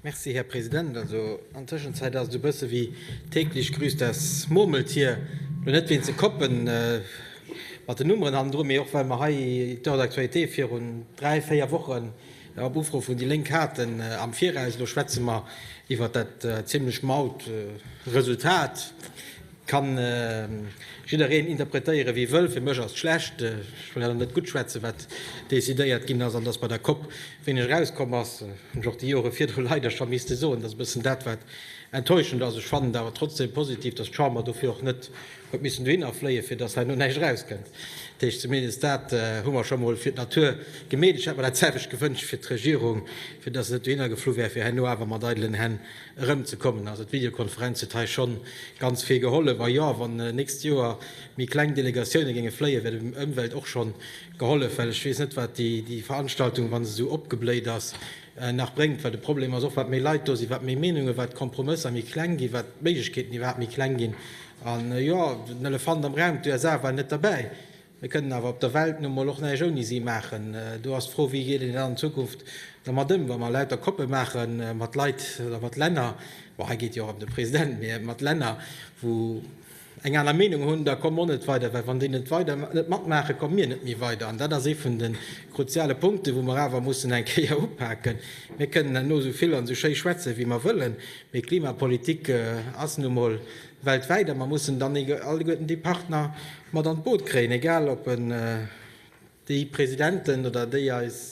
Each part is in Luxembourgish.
Merci, Här President. Also, an Tëschenzäit ass et e bësse wéi täglich grüßt das Murmeltier. Lo net wéinst de Koppen mat den Nummeren hannendru, mee och well mer hei d'Heure d'actualité virun dräi, véier Wochen op Ufro vun déi Lénk haten am Viraus. Elo schwätze mer iwwert dat zimlech maut Resultat. Kann jiddereen interpretéieren wéi wëll, fir mech ass et schlecht, ech wëll leider net gutt schwätzen wat décidéiert ginn ass an dass bei der Coop wéineg erauskomm ass, hunn ech och déi Jore virdru leider scho misste soen. Dat ass e bëssen dat wat enttäuschend ass. Ech fannen et awer trotzdem positiv, dass d'Chamber dofir och net huet missen dohin afléien, fir dass herno näischt erauskënnt. Dat heescht, zumindest dat hu mer scho mol fir d'Natur gemeet. Ech hätt mer dat selwecht gewënscht fir d'Regierung, fir dass se net dohinner geflu wär, fir herno awer mat eidelen Hänn Erëm ze kommen, also d'Videokonferenz huet hei schonn ganz vill gehollef. A jo, wann nächst Joer méi kleng Delegatioune géinge fléien, wäert dem Ëmwelt och schonn gehollef, well ech weess net, wat déi Veranstaltung, wann se esou opgebléit ass, nach bréngt. Well de Problem ass och, wat méi Leit do sinn, wat méi Meenungen, wat d'Kompromësser méi kleng ginn, wat d'Méiglechkeeten iwwerhaapt méi kleng ginn. An jo, den Elefant am Raum, d'USA waren net derbäi. Mir kënnen awer op der Welt nu emol och näischt ouni si maachen. Do ass d'Fro, Wéi geet een dann an Zukunft dermat ëm, wa mer lauter Koppe maache mat Leit oder mat Länner, bon hei geet jo och ëm de President, mä mat Länner, wou eng aner Meenung hunn? Da komme mer och net weider, well wann déi net weider net matmaachen, komme mir net méi weider. An dat ass ee vun de kruziale Punkten, wou mer awer mussen eng Kéier upaken. Mir kënnen herno esou vill an esou schéi schwätzen, wéi mer wëllen, mä Klimapolitik ass nu emol Weltwäit, a mer mussen dann alleguerten déi Partner mat an d'Boot kréien, egal ob en déi Presidenten oder déi eis,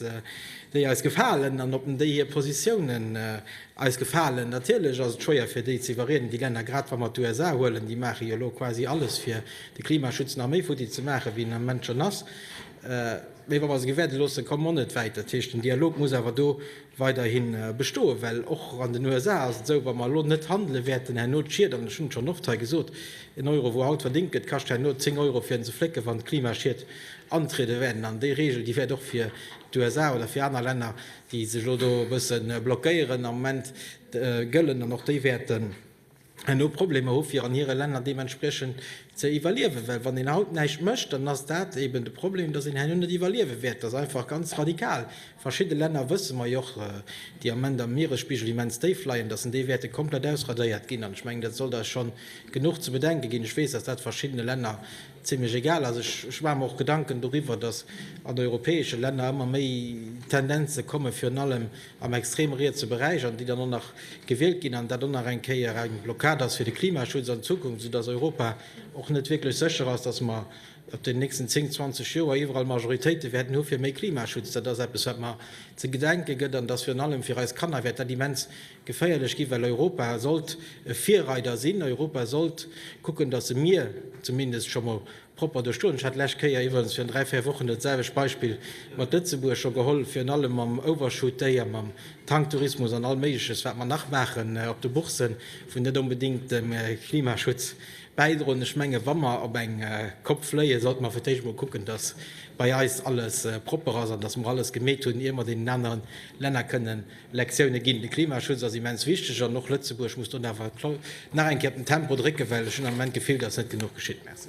déi eis gefalen an ob en déi hir Positiounen eis gefalen. Natierlech ass et schwéier fir déi ze iwwerrieden, déi Länner, grad wa mer d'USA huelen, déi maache jo elo quasi alles fir de Klimaschutz nach méi futti ze maachen, wéi en am Moment schonn ass, mä wa mer se gewäerde loossen, komme mer och net wäit. Dat heescht, den Dialog muss awer do weiderhi bestoe well. Och an den USA ass et esou, wa mer elo net handele wäerten herno d'Schied, an ech hunn et schonn oft hei gesot, en Euro wou haut verdéngt gëtt, kascht herno 10 Euro fir en ze flécken, wann d'Klimaschied antriede wäerten. An déi Regel déi wäert och fir d'USA oder fir aner Länner, déi sech elo do e bësse blockéieren am Moment, gëllen an och déi wäerten herno Problemer hu fir an hire Länner deementspriechend ze iwwerliewen, well wann een haut näischt mécht, dann ass dat eben de Problem, datt een herno net iwwerliewe wäert. Dat ass einfach ganz radikal. Verschidde Länner, wësse mer jo och, déi am Moment am Mieresspigel immens déif leien, datt en déi wäerte komplett ausradéiert ginn. An ech mengen, dat sollt eis scho genuch ze bedenke ginn. Ech weess, datt dat verschiddene Länner zimmlech egal ass. Ech maache mer och Gedanken doriwwer, datt an europäesche Länner ëmmer méi Tendenze komme virun allem, am extrem rietse Beräich an déi dann och nach gewielt ginn an dat och nach eng Kéier eng Blockad ass fir de Klimaschutz an d'Zukunft, esoudass Europa och net wierklech sécher ass, dass mer op den nächsten zéng, zwanzeg Joer iwwerall Majoritéite wäerten hu fir méi Klimaschutz. Dat ass eppes, wat mer ze gedenke gëtt an dass virun allem fir eis Kanner wäert dat immens geféierlech ginn, well Europa sollt e Virreider sinn. Europa sollt kucken, dass se mir zumindest scho mol Propper duerch d'Joen. Ech hat d'lescht Kéier iwwerens virun dräi, véier Wochen dat selwecht Beispill mat Lëtzebuerg scho geholl, virun allem mam Overshoot Day a mam Tanktourismus an all Méigleches, wat mer nach maachen op de Bourssen, wou net onbedéngt dem Klimaschutz bäidroen. Ech mengen, wa mer op eng Cop fléien, sollte mer fir d'éischt emol kucken, dass bei eis alles propper ass an dass mer alles gemeet hunn, ier mer deenen anere Länner kënnen Lektioune ginn. De Klimaschutz ass immens wichteg an och Lëtzebuerg muss do nach eng Kéier op den Tempo drécken, well ech hunn am Moment d'Gefill, dass net genuch geschitt. Merci.